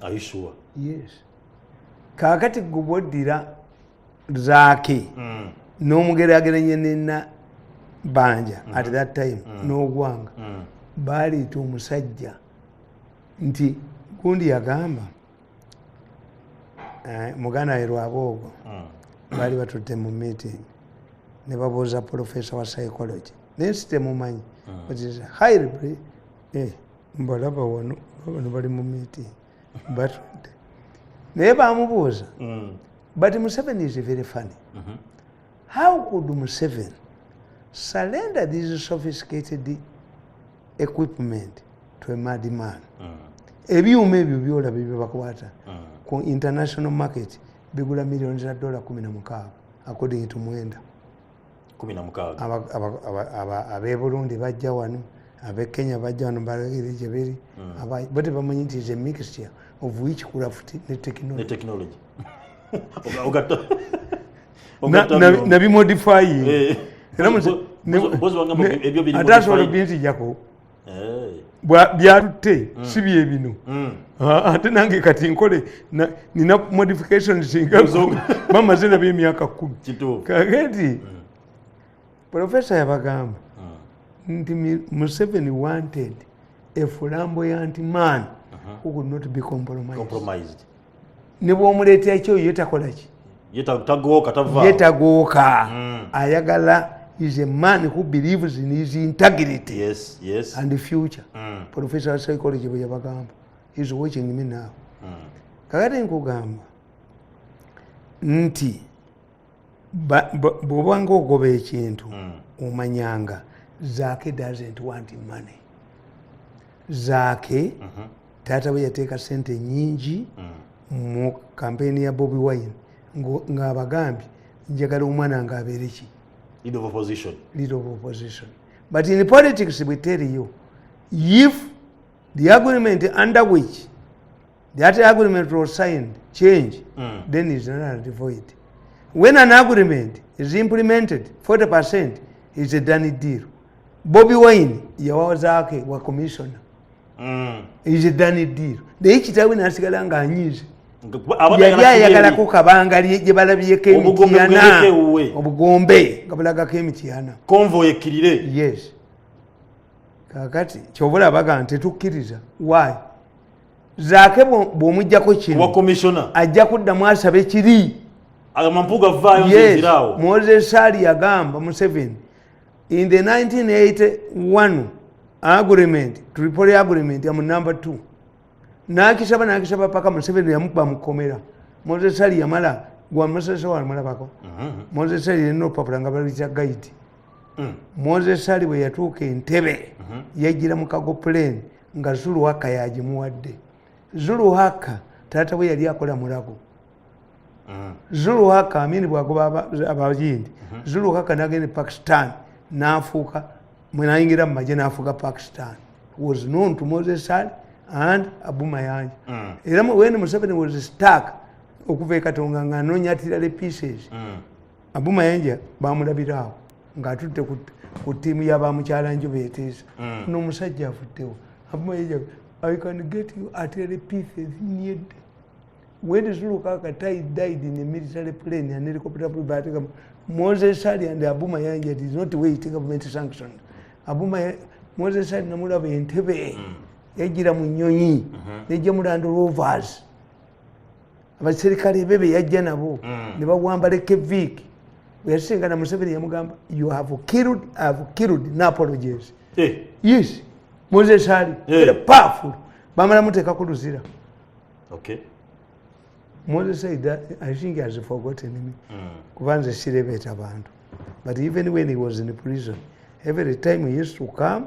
ayisuwa yes kakati gubwoddira zaake mm. n'omugerageranya nena banja mm. at mm-hmm. that time mm. n'ogwanga mm. baleeta omusajja nti gundi yagamba eh, muganda we lwaboogo mm. baali batutte mu meeting ne babuuza professor wa psychology naye sitemumanyi mm. hire eh. mbalaba wano bano bali mu meeting batudde naye bamubuuza mm. but museven is very funny mm-hmm. how could museven surrender these sophisticated equipment to a mad man mm. ebyuma ebyo byolaba byebakwata mm. ku international market bigula millioni za dola kumi na mukaaga according to mwenda ab'e burundi bajja wano ab'e kenya bajja wano balagire gye biri hmm. bo tebamanyi nti is a mixture of witchcraft ne technology nabimodifying eh. era ate asobola obinzijako byalutte mm. si bye bino mm. ah, ate nange kati nkole nina modification singa bamaze nabyo emyaka kumi kage nti mm. profesa yabagamba nti museveni wanted efulambo yanti man uh-huh. who could not be compromised ne bwomuleeta ekyoyo yetakolaki yetagooka hmm. ayagala is a man who believes in his integrity yes, yes. and the future mm. professor of psychology bwe yabagamba is watching me now mm. kakati nkugamba nti bwobanga ogoba ekintu mm. omanyanga zaake doesn't want money zaake mm -hmm. taata we yateeka sente nyingi mm. mu kampeyini ya bobi wine ngaabagambye njagala omwana nga abeere ki lead of opposition lead of opposition but in politics we tell you if the agreement under which that agreement was signed change mm. then is not a devoid when an agreement is implemented 40 percent is a done deal bobi wine yawazake wa commissioner mm. is a done deal naye kitawe nasigala nga anyize yali ayagalako kabanga gyebalabyeko emityana obugombe nga bulagako emityana convoy ekkirire yes kakati kyobula baga nti tukkiriza why zaake bwomujjako kino ajja kuddamu asaba ekiri mozesali yagamba museveni in the 1981 agreement tripoli agreement amu number 2 nakisaba nakisaba paka museveni yamukuba mukomera mozesali yamala gwamusese wamulabako mm-hmm. mozesali yalina olupapula nga balwisa gaidi mm. mozesali bwe yatuuka entebe mm-hmm. yajjira mukago plane nga zuluhaka yagimuwadde zuluhaka taata bwe yali akola mulago mm. zuluhaka amini bwagoba abayindi mm-hmm. zuluhaka nagenda e pakistan nafuuka mwenayingira mumaje nafuuka pakistan was known to moses ali and abu mayanja mm. era wen museveni was stark okuva ekatonga nga anonya tirale pieces mm. abu mayanja bamulabiraawo ng'atutte ku ttiimu ya bamukyala njuba eteesa hmm. n'omusajja avuddewo i can get you at any pieces need when zulukaka tai died in a military plane and helicopter bateka moses ali and abuma yanja did not wait government sanction abuma moses ali namulaba entebe hmm. yajira mu nyonyi hmm. nejja mulando rovers mm -hmm. abaserikale be beyajja nabo mm. ne bawamba lekeviiki bweyasingana museveni yamugamba you have killed, have killed napologies hey. Eh. yes moses ali hey. Eh. powerful bamala muteeka ku luzira okay. moses said that i think he has forgotten me mm. kuba nze sirebeeta bantu but even when he was in prison every time he used to come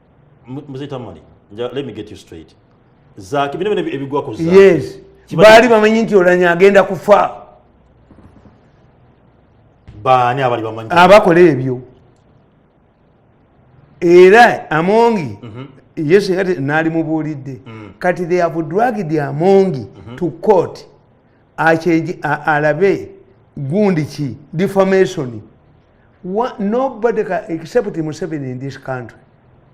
mzee tamale let me get you straight zaki bino bino ebigwa ku zaki yes kibali bamanyi nti olanya agenda kufa baani abali bamanyi abakola ebyo era amongi mm -hmm. yesu kati nali mubuulidde mm. kati they have dragged amongi mm -hmm. to court akyeje alabe gundi ki defamation What, nobody can, except Museven in this country.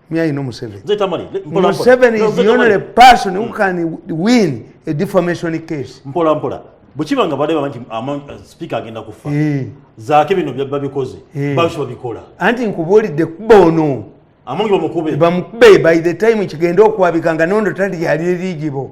Me, I know Museven. Museven is the only person who hmm. can win a defamation case. Mpola, mpola. bwekiba nga bade bamanti uh, sipiika agenda kufa eh. zaake bino babikoze eh. babisoba bikola anti nkubuulidde kuba ono amangi bamukube bamukube by the time kigenda okwabika nga nondo tali yali erigibo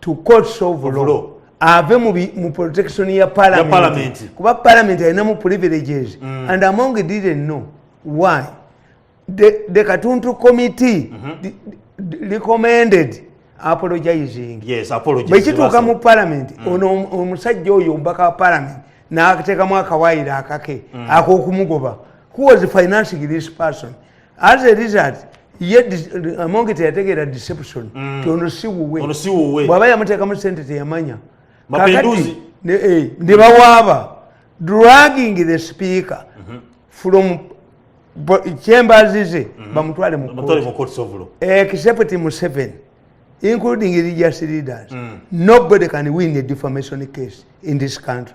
to court solve law, law. ave mu, mu protection ya parliament, parliament. kuba parliament alinamu privileges mm. and among didn't know why the, the katuntu committee mm -hmm. recommended apologizing yes, bwekituuka mu parliament mm. ono omusajja oyo omubaka wa parliament n'ateekamu akawayiro akake mm. ak'okumugoba who was financing this person as a result ye amonge teyategeera deception mm. ti ono siwuwe bwaba yamuteekamu sente teyamanya kakati eh, ne bawaaba dragging the speaker mm-hmm. from chambers ze mm-hmm. bamutwale mukoto except museven including religious leaders mm. nobody can win a defamation case in this country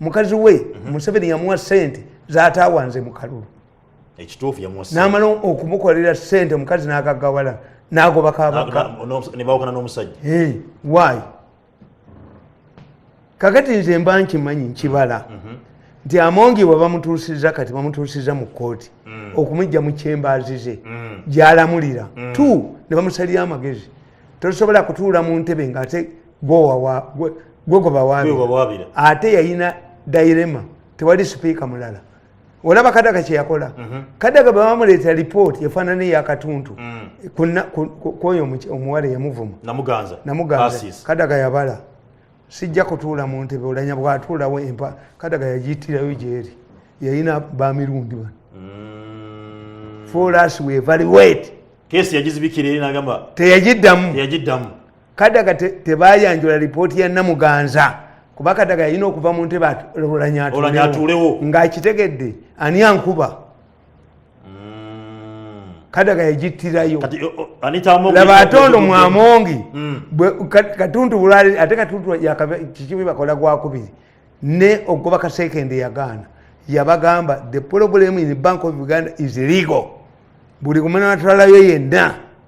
mukazi we mhm. museveni yamuwa sente zatawanze mukalulu namala okumukolera sente omukazi nagagawala nagoba kabakanebaukana nomusajja eh, wy kakati nze mba nkimanyi nkibala mhm. nti amongi we bamutuusiza kati bamutuusiza mu kooti mm. okumujja mu kyembaazi ze mm. gyalamulira mm. t ne bamusalira amagezi tosobola kutuula mu ntebe ngaate gwegobawabira ate yayina dairema tewali sipiika mulala olaba kadaga kyeyakola mhm. kadaga bebamuleeta lipooti efaanana eyakatuntu mm. kwoyo omuwala eyamuvuma kadaga yabala sijja kutuula mu ntebe olanya bwatuulawo empa kadaga yagiyitirayo gyeri yayina bamirundi bano mm. foras wevaliwet teyagiddamu kadaga tebayanjula te lipooti ya namuganza kuba kadaga yalina okuva mu ntebe olanyatulewo ngaakitegedde ani ankuba mm. kadaga yagittirayo laba atondo mwamongi mm. katuntu bulali ate katuntu kikibi bakola gwakubiri ne ogoba kasekende yagaana yabagamba the problem in bank of uganda is legal buli kumanatwalayo yenna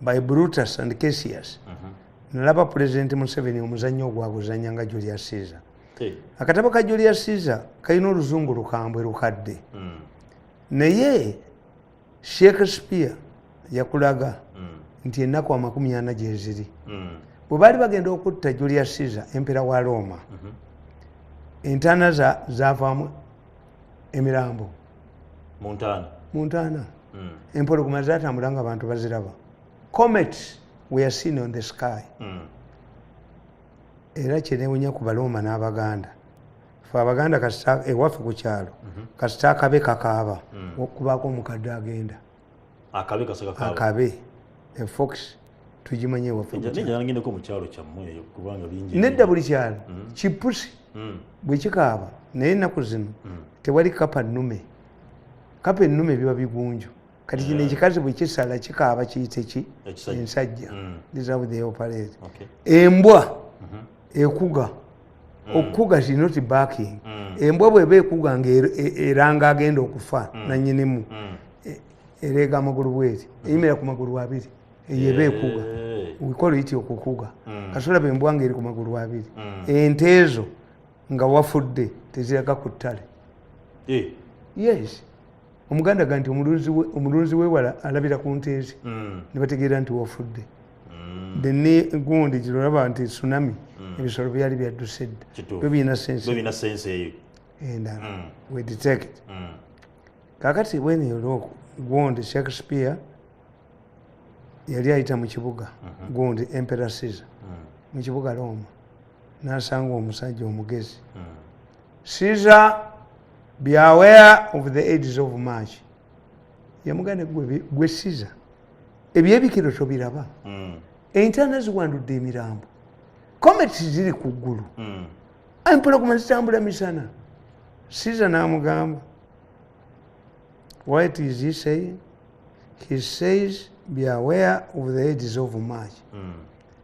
by brutus and casius uh mhm. -huh. nalaba pulezidenti museveni omuzannyo ogwaguzanya nga julius caesar hey. Eh. akatabo ka julius caesar kalina oluzungu lukambwe lukadde mm. naye shakespeare yakulaga mm. nti ennaku amakumi ana gyeziri mm. bwe baali bagenda okutta julius caesar empera wa roma mm -hmm. entana zavaamu za emirambo muntaana hmm. empologoma zatambula nga abantu baziraba comets were seen on the sky hmm. era kyenewunya ku balooma n'abaganda fe abaganda ewaffe ku kyalo mhm. kasita akabe kakaaba hmm. okubaako omukadde agenda akabe kasaka kaaba akabe enfox tugimanye wafaanagenda ko mu kyalo kyammwe eyo kubanga bingi nedda buli kyalo mm. kipusi mm. bwe kikaaba naye ennaku zino mm. tewali kapa nnume kapa ennume biba bigunju kati kino ekikazi bwe kisala kikaaba kiyite ki ensajja deserve the operate embwa mm-hmm. ekuga mm. okukuga she not backing mm. embwa bweba ekuga nga er, e, eranga agenda okufa mm. nanyinimu mm. E, ereega amagulu bweri mm. eyimira ku magulu abiri eyo eba ekuga wikola iti okukuga mm. kasolaba embwa nga eri ku magulu abiri mm. ente ezo nga wafudde teziraga ku ttale eh. yes omuganda ga nti omulunzi wewala alabira ku nteezi mm. nebategeera nti wafudde mm. deni gundi girolaba nti tsunami mm. ebisolo byali byadduse dda byo birina sense eyo endala eh, we detect kakati bwene yolooku gundi shakespeare yali ayita mu kibuga mm-hmm. gundi emperor caesar mu kibuga roma nasanga omusajja omugezi Caesar be aware of the aids of march yamugane gwe Caesar ebyebikiro tobiraba mm. entana ziwandudde emirambo comets ziri ku ggulu mm. empologoma zitambula misana Caesar namugamba what is he saying he says be aware of the aids of march mm.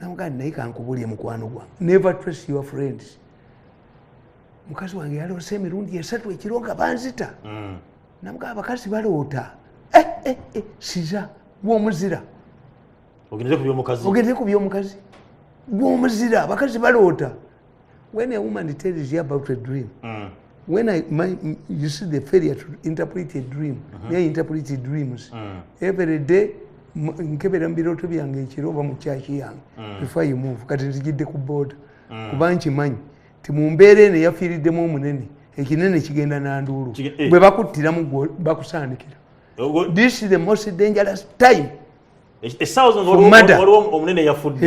namugaa naye kankubulye mukwano gwa never trace your friends mukazi wange yaloose emirundi esatu ekiro nga banzita mm. namugaa abakazi baloota eh, eh, eh, siza gwomuzira ogendere ku byomukazi gwomuzira abakazi baloota when a woman tells you about a dream mm. when I, my, you see the failure to interpret a dream mm -hmm. yeah, interpret dreams mm. every day nkebera mu birooto byange ekiro oba mu kyaki yange mm. before you move kati nzijidde ku booda mm. kuba nkimanyi ti mu mbeera eno eyafiiriddemu omunene ekinene kigenda nanduulu eh. bwe bakuttiramu bakusaanikira this is the most dangerous time essaawa zino waliwo omunene yafudde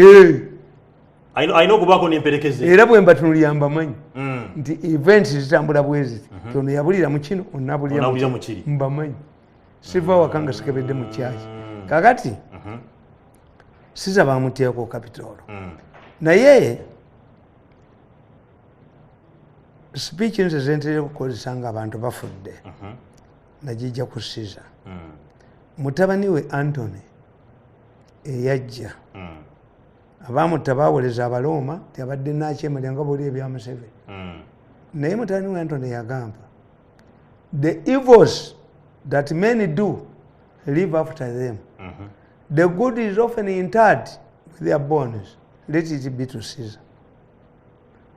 alina okubaako nemperekeze era bwe mbatunulira mbamanyi mm. nti event zitambula bweziti mhm. ti ono yabulira mu kino onabulira mukiri mbamanyi siva waka nga sikebedde mu kyaki mm. kakati mhm. siza bamuteeko kapitoolo mm. naye sipiiki nze zentere okukozesa nga abantu bafudde mhm. najija ku siza mm. mutabani we antony eyajja mm. abamutta bawoleza abalooma tiabadde nakyemalya nga boli ebya museveni mm. naye mutabani we antony yagamba the evils that many do live after them mm -hmm. the good is often interred with their bones let it be to caesar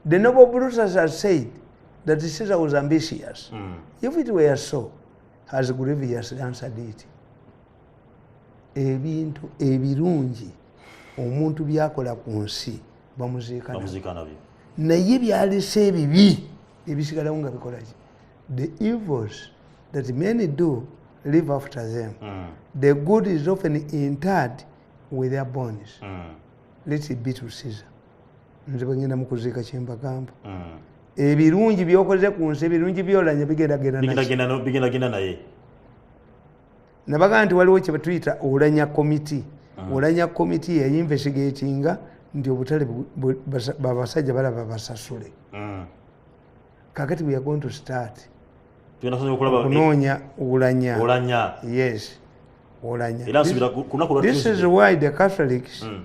The noble Brutus has said that Caesar was ambitious. Mm. If it were so, has grievously answered it. Ebintu ebirungi omuntu byakola ku nsi bamuziika nabyo naye byalese ebibi ebisigalawo nga bikolaki the evils that many do live after them mm. the good is often interred with their bones mm. let it be to Caesar nze bwengenda mukuziika kyembagamba mm. ebirungi byokoze ku nsi ebirungi byolanya bigendagendanabigendagenda naye nabaga nti waliwo kyebatuyita olanya komiti mm. olanya komiti yayinvestigatinga nti obutale babasajja balaba basasule mm. kakati we are going to start kunoonya olanya yes olanya this is why the catholics mm.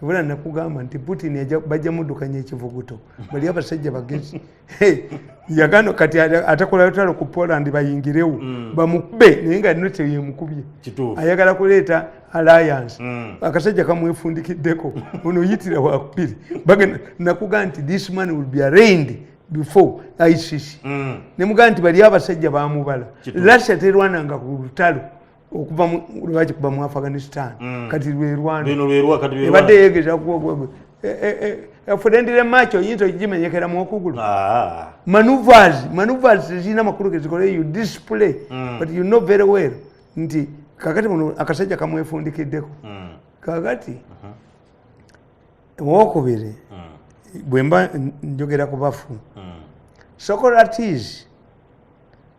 kibula nakugamba nti putin bajja mudukanya ekivuguto bali abasajja bagezi yagano kati atakola lutalo ku poland bayingirewo mm. bamukube naye nga nno teyemukubye ayagala kuleeta alliance mm. akasajja kamwefundikiddeko ono yitira wakubiri bagenda nakuga nti this man will be arraigned before icc mm. nemugaa nti bali abasajja bamubala russia terwananga ku lutalo okuva lwaki kuba mu afghanistan mm. kati lwerwanebadde yegeza efudendire e, e, e, macho oyinza okigimenyekeramu okugulu ah. manuvers manuvers zirina makulu gezikola you display mm. but you know very well nti kakati muno akasajja kamwefundikiddeko mm. kakati uh-huh. owokubiri bwemba njogera ku bafu socrates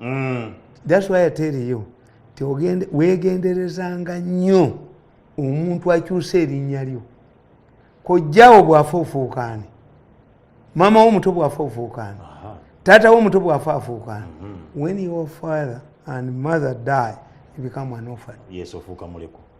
mm. that's why I tell you ti wegenderezanga nnyo omuntu akyusa erinnya lyo kojjawo bwafa ofuukaani maama wo omuto bwafa ofuukaani taata wo omuto bwafa afuukaani mm-hmm. when your father and mother die you become an orphan yes ofuuka muleko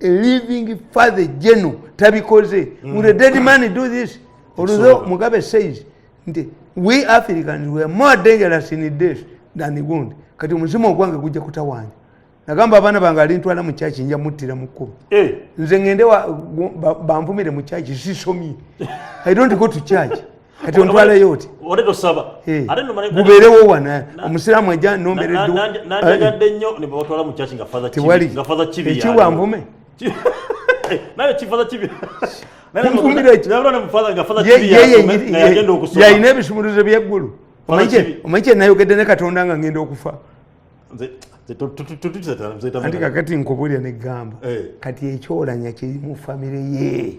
living father general tabikoze mm. will a dead man do this although mugabe says nti we africans were more dangerous in this than the wound kati omuzimu ogwange gujja kutawanya nagamba abaana bange alintwala mu kyaki nja muttira mu kkubo eh. nze ngende bamvumire mu kyaki sisomye i don't go to church kati ontwaleyo oti ate tosaba ate nomanya gubeerewo wana omusiraamu ajja nombereddenanjagadde eh. nnyo nebatwala mu kyaki nga father tewali nga father kibi ekiwa nvume naye kifather kibi yalina ebisumuluzo byeggulu omanyi kyenayogedde ne katonda nga ngenda okufa anti kakati nkubulira negamba eh. kati ekyolanya kiri mu famire ye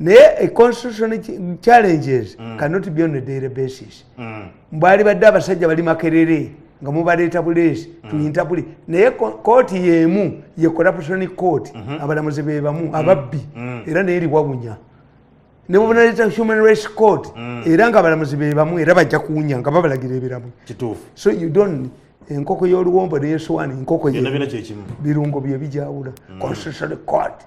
naye e constitution challenges mm. cannot be on a daily basis mm. mbwali badde abasajja bali makerere nga mubaleeta buleesi mm. tuyinta buli naye kooti yemu ye corruption court mm -hmm. abalamuzi bebamu mm. ababbi mm. era naye liwawunya nebubunaleta human rights court mm. era nga abalamuzi bebamu era bajja kuwunya nga babalagira ebiramu so you don't enkoko yoluwombo neyesowani enkoko birungo byebijawula mm. constitution court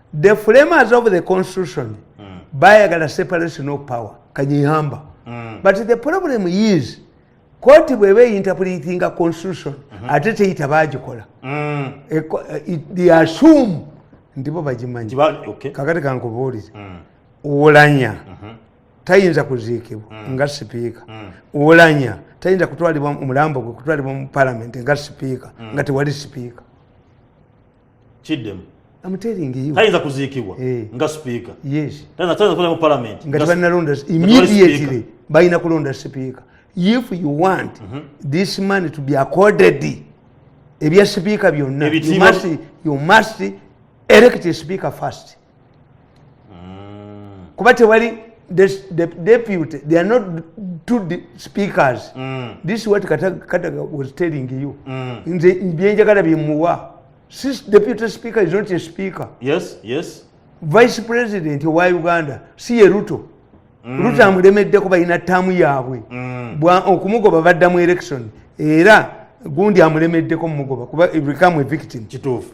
the framers of the constitution mm. bayagala separation of power kanyihamba mm. but the problem is kooti bweba einterpretinga constitution mm -hmm. ate teyita bagikola mm. e, e, the assume ndibo bagimanyi okay. kakati kankubuulire mm. ulanya mm -hmm. tayinza kuziikibwa mm. nga sipiika mm. ulanya tayinza kutwalibwa omulambo gwe kutwalibwa mu palamenti nga sipiika mm. nga tewali sipiika kiddemu tayinza kuziikibwa eh. nga sipiika tayinza kulemu palamenti nga tebanalonda immediately balina kulonda sipiika if you want mm -hmm. this man to be accorded ebya sipiika byonna you must elect a speaker first mm. kuba tewali the, the deputy they are not two de speakers mm. this what kataga was telling you mm. nze byenjagala byemuwa since deputy speaker is not a speaker yes yes vice president owa uganda si ye ruto mm. ruto amulemeddeko balina taamu yaabwe mm. okumugoba badda mu election era gundi amulemeddeko mumugoba kuba become a victim kituufu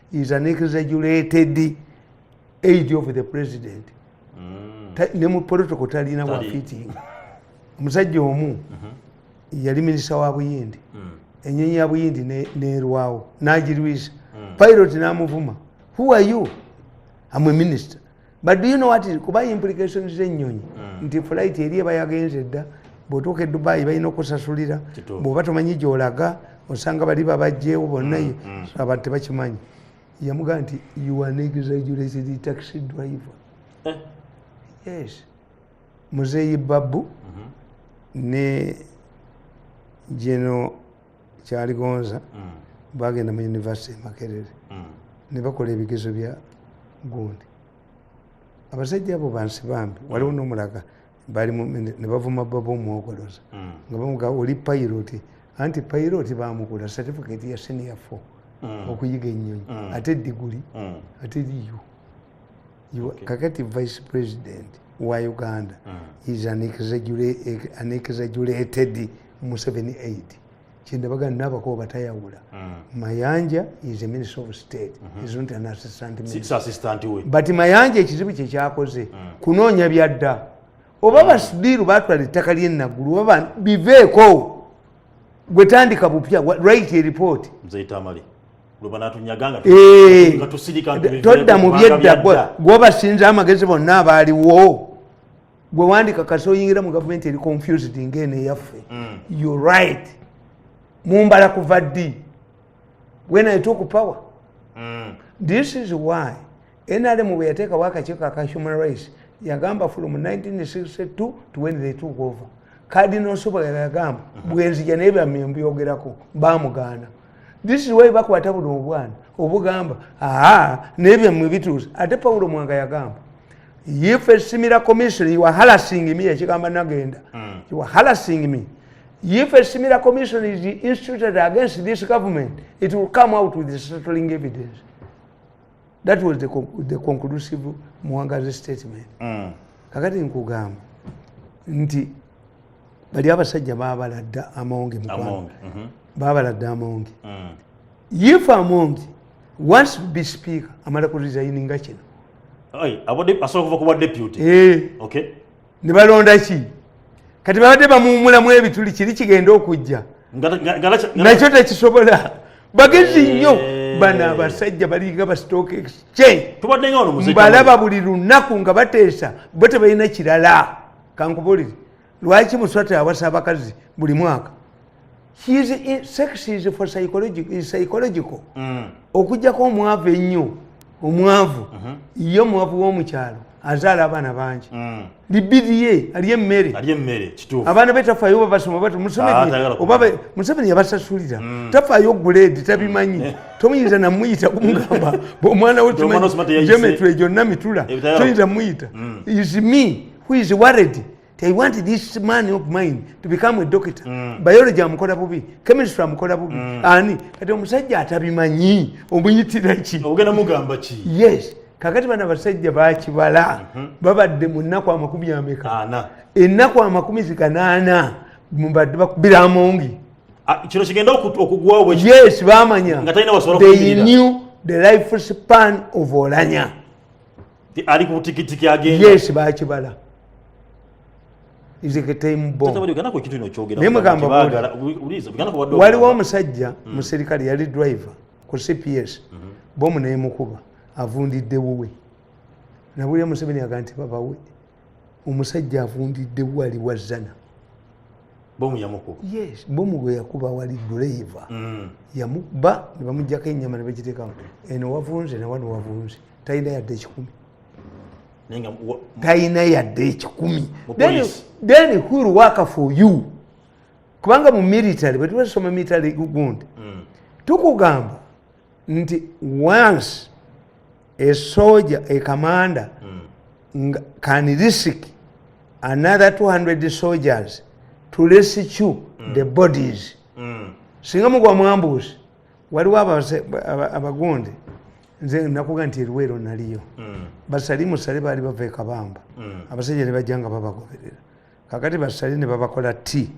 is an exaggerated aid of the president mm. ne mu protocol talina wa fitting omusajja omu mm-hmm. yali minisita wa buyindi mm. enyonyi ya buyindi nerwawo nagirwisa mm. pilot namuvuma who are you am a minister but do you know what is kuba implications z'ennyonyi mm. nti flight eri eba yagenze dda bw'otuuka e dubayi balina okusasulira bw'oba tomanyi gy'olaga osanga bali babajjeewo bonnayo mm, mm. abantu tebakimanyi yamugamba nti you are an exaggerated taxi driver eh. yes muzeeyi babu mm-hmm. ne geno kyaligonza mm. bagenda mu univesity emakerere mm. ne bakola ebigezo bya gundi abasajja abo bansi bambi mm. waliwo nomulaga nebavuma baba omwogoloza mm. nga bamuga oli pairoti anti pairoti bamukula certificate ya senior fo mm. okuyiga ennyonyi mm. ate diguli mm. ate liyo kakati vice president wa uganda mm. is an exaggerated museveni aid kyendabaga nabako batayawula mm. mayanja is a minister of state mm-hmm. is not an assistant minister but mayanja ekizibu kyekyakoze mm. kunoonya byadda oba basidiiru batwala ettaka lyenagulu oba biveeko gwe tandika bupya write a report mzee tamale eh, todda mu byedda gwobasinza amagezi bonna abaaliwo gwe wandika kasi oyingira mu gavumenti eri confused ngaeno eyaffe mm. you right mumbala kuva ddi when i took power mm. this is why nrm bwe yateekawo akakiiko aka human rights yagamba from 1962 to when they took over kadino nsobola yagamba mhm. bwenzija naye byamye mbyogerako bamugaana this is why bakwata buno obwana obugamba aa naye byamwe bituuse ate pawulo mwanga yagamba if a similar commission you are harassing me ekigamba nagenda mm. you are harassing me if a similar commission is instituted against this government it will come out with settling evidence that was the, the conclusive muwangazi statement mm. kakati nkugamba nti bali abasajja babaladda amonge mukwano mhm. babaladda amonge mm. if amonge wants to be speaker amala ku resigninga kino abadde asobola kuva kuba deputy eh. okay ne balonda ki kati babadde bamuwumulamu ebituli kiri kigenda okujja nakyo tekisobola bagezi eh. nnyo bano abasajja balinga ba stock exchange mbalaba buli lunaku nga bateesa bo tebalina kirala kankubulire lwaki muswati awasa abakazi buli mwaka psychological mm. okujjako omwavu ennyo omwavu mhm. ye omwavu w'omukyalo azaala abaana bangi mm. libiriye ali emmere abaana be tafayo oba basoma bat museveni yabasasulira mm. tafayo guleedi tabimanyi mm. tomuyinza namuyita kumugamba omwana wegeometry gyonna mitula toyinza muyita is me who is worried they want this man of mine to become a doctor mm. biology amukola bubi chemistry amukola bubi mm. ani kati omusajja atabimanyi omuyitira ki ogenda mugamba ki yes kakati bana basajja bakibala mm -hmm. babadde mu nnaku amakumi ameka ennaku amakumi zikanaana mbadde bakubira amongi ah, kino kigenda okugwawo yes bamanya they knew the life span of olanya ali ku tikitiki agenda yes bakibala waliwo omusajja mm. muserikale yali driver ku cps mm -hmm. bomu nemukuba avundidde wuwe nabulira museveni aga nti babawe omusajja avundidde wali wa zana bomu yamukuba yes bomu gwe yakuba wali driver mm. yamukuba ne bamujjako ennyama ne bagiteekamu eno wavunze ne wano wavunze talina yadde ekikumi talina yadde ekikumi then who will work for you kubanga mu military bwetubasoma military gundi mm. tukugamba nti once a soldier a commander mm. can risk another 200 soldiers to rescue mm. the bodies mm. singa mugwa mwambuuzi waliwo abagundi nze nakuga nti eruweero naliyo mm. basali musale baali bava ekabamba mm. abasajja ne bajja nga babagoberera kakati basale ne babakola ti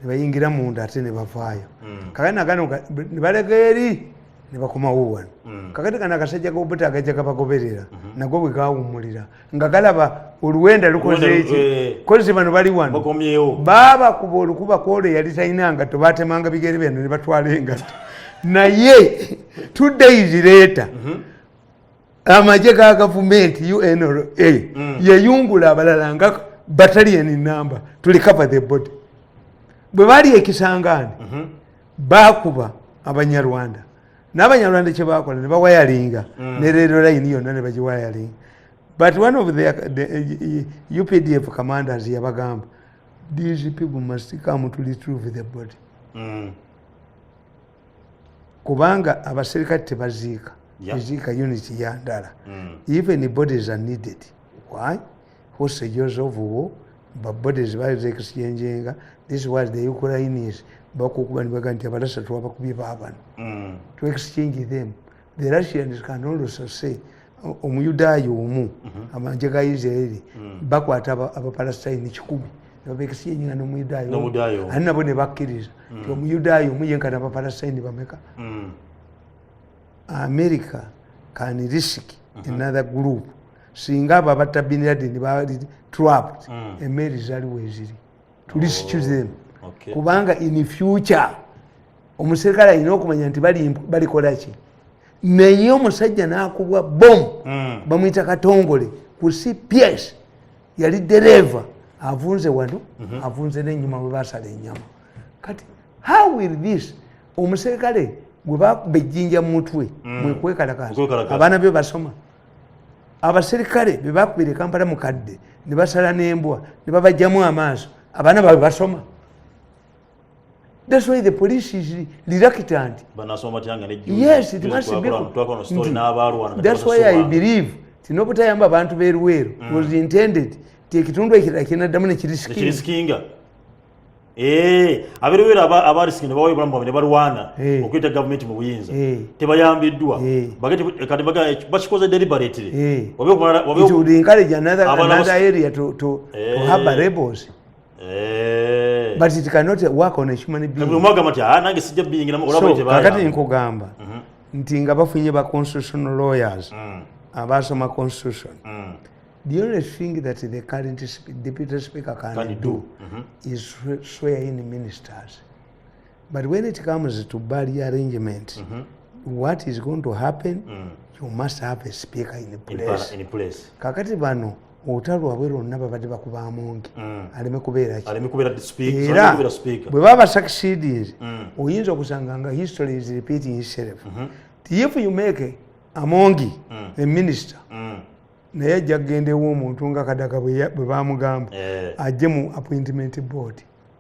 ne bayingira munda ate ne bavaayo mm. kakati nagana ne balega eri ne bakomawo wano mm. kakati kana akasajja gobuta agajja gabagoberera mm -hmm. nago bwe gawummulira nga galaba oluwenda lukoze eki eh. kozi bano bali wano baaba kuba olukuba kwolo eyali talina ngatto batemanga bigere byano ne batwala engatto naye two days later mm -hmm. amagye ga gavumenti unra mm. yeyungula abalala nga batalian number to recover the body bwe bali ekisangaani mhm. bakuba abanyarwanda n'abanyarwanda kyebakola ne bawayalinga mm. ne reero layini yonna ne bagiwayalinga but one of the, the uh, updf commanders yabagamba these people must come to retrieve the body mm. kubanga abaserikale tebaziika eziika unit ya ndala mm. even bodies are needed why hostages of war but bodies baziexchangenga this was the ukrainians bakukuba nibaga nti abalasa twabakubye babano mm. to exchange them the russians can also say omuyudaaya omu mhm. amanje ga israeli mm. bakwata abapalestine kikumi nebabekisiyenyina nomuyudaaya ani nabo nebakkiriza mm. ti omuyudaaya omu yenkana abapalestine bameka mm. america can risk mhm. another group singa abo abatta bin laden bali trapped emeeri zaliwo eziri to risk oh, them kubanga in future omuserikale alina okumanya nti balikola ki naye omusajja nakubwa bom hmm. bamwita katongole ku cps yali dereeva avunze wano mhm. avunze nenyuma webasala enyama kati how will this omuserikale gwebakuba ejjinja mumutwe hmm. mwekwekalakaza abaana byo basoma abaserikale bebakubira ekampala mukadde nebasala nembwa nebabajjamu amaaso abaana bawe basoma That's why the police is reluctant. Yes, it must be. That's why I believe tinobutayamba abantu beruweru mm. was intended tekitundu ekirala kinaddamu nekirisikinga eh, aberuweru abarisiki nebawayo obulamu bwabwe nebalwana eh. okuyita gavumenti mu buyinza eh. tebayambiddwa bakikoze deliberately obeokumalaabaana area to haba rebels Eh. but it cannot work on a human being ah, nange sijja biyingira mu olaba tebaya kakati nkugamba mhm. nti nga bafunye ba constitutional lawyers mm. abaasoma constitution mm. the only thing that the current deputy speaker can, can do, do mm -hmm. is swear in ministers but when it comes to bali arrangement mm -hmm. what is going to happen mm. you must have a speaker in place, in place. kakati bano ota lwabwe lwonna babadde bakuba mungi mm. aleme kubeeraera bwe baba succeedings mm. oyinza okusanga nga history is repeating itself mm -hmm. if you make amongi mm. a minister mm. naye ajja kugendaewo omuntu nga kadaga bwe bamugamba eh. ajje mu appointment board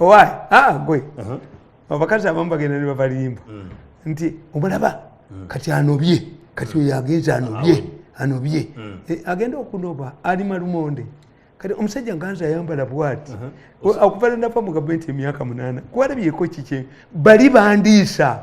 owaye aa ah, gwe uh-huh. abakazi abamu bagenda nebabalimba mm. nti omulaba mm. kati anobye kati mm. oyo agenze anobye anobye e, agenda okunoba ali malumonde kati omusajja nganza ayambala bwati uh-huh. okuva lwenafa mu gavumenti emyaka munana kuwalabyeko kikye bali bandiisa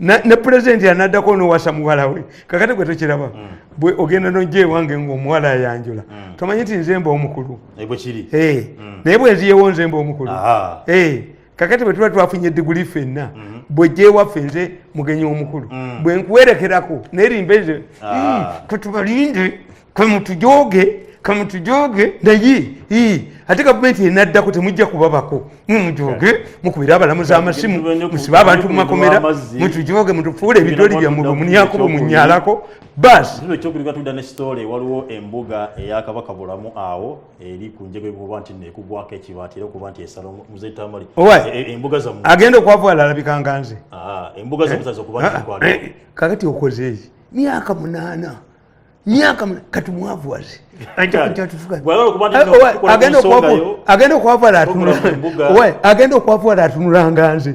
ne pulezidenti anaddako nowasa muwala we kakati gwe tokiraba mm. bwe ogenda nojja ewange ngaomuwala ayanjula mm. tomanyi nti nzemba omukulu eh, eh, mm. naye bwenziyewo nzemba omukulu eh, kakati bwe tuba twafunye diguli fenna mm-hmm. bwejja ewaffe nze mugenyi omukulu bwenkuwerekerako nerimba ezo ah. hmm, katubalinde kamutujooge kamutujooge naye ate gavumenti enaddako temujja kubabako mwe mujooge mukubire abalamuzi amasimu musibe abantu mumakomera mutujooge mutufuule ebidoli byammwe bwemunyako bwemunyalako basi ekyogerwa tudda ne sitole waliwo embuga eyakabaka bulamu awo eri ku njego ekuba nti nekugwako ekibaati era okuba nti esala muzetamali e, e, embuga zamwe agenda okwavwala alabikanga nze ah, embuga zamwe ah, zazokuba nti ah, eh, kakati okozeeki myaka munaana myaka kati mwavu wazi agenda okwavula atunulanga nze